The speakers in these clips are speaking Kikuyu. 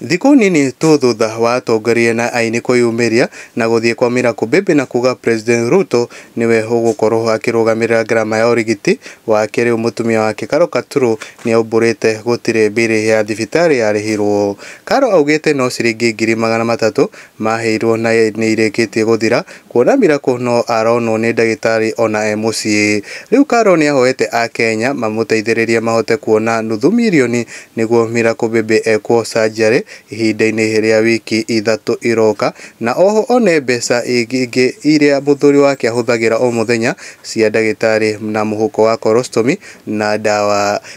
Thikũ nini tu thutha wa atongoria na aini kwĩyumĩria na gũthiĩ kwa Mira Kubibi na kuuga President Ruto nĩwe ũgũkorwo akĩrũgamĩrĩra ngarama ya ũrigiti wake, rĩu mũtumia wake Carol Katuru nĩaumbũrĩte gũtirĩ mbirĩ ya thibitarĩ yarĩhirwo. Carol augĩte no ciringi ngiri magana matatũ maheirwo na nĩirĩkĩtie gũthira kuona Miracle no aronwo nĩ ndagĩtarĩ ona e mũciĩ. Rĩu Carol nĩahoete Akenya mamũteithĩrĩrie mahote kuona nuthu mirioni nĩguo Miracle Baby ekwo surgery ihinda-inĩ rĩa wiki ithatũ iroka na oho one mbeca ingĩ iria mũthuri wake ahũthagĩra o mũthenya cia ndagĩtarĩ na mũhuko wa colostomy na ndawa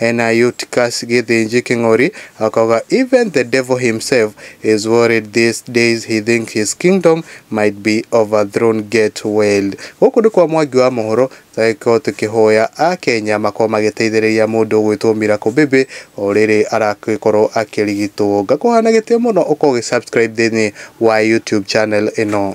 Ena Eutychus Githinji King'ori akauga even the devil himself is worried these days he think his kingdom might be overthrown get well. Gũkũ nĩ kwa Mwangi wa Mũhũro tũgagĩkorwo tũkĩhoya a Kenya makorwo magĩteithĩrĩria mũndũ ũgwĩtwo Miracle Baby o rĩrĩ aragĩkorwo akĩrigitwo. Ngakũhoya na gĩtĩo mũno ũkorwo ũgĩ subscribe thĩinĩ wa YouTube channel ĩno.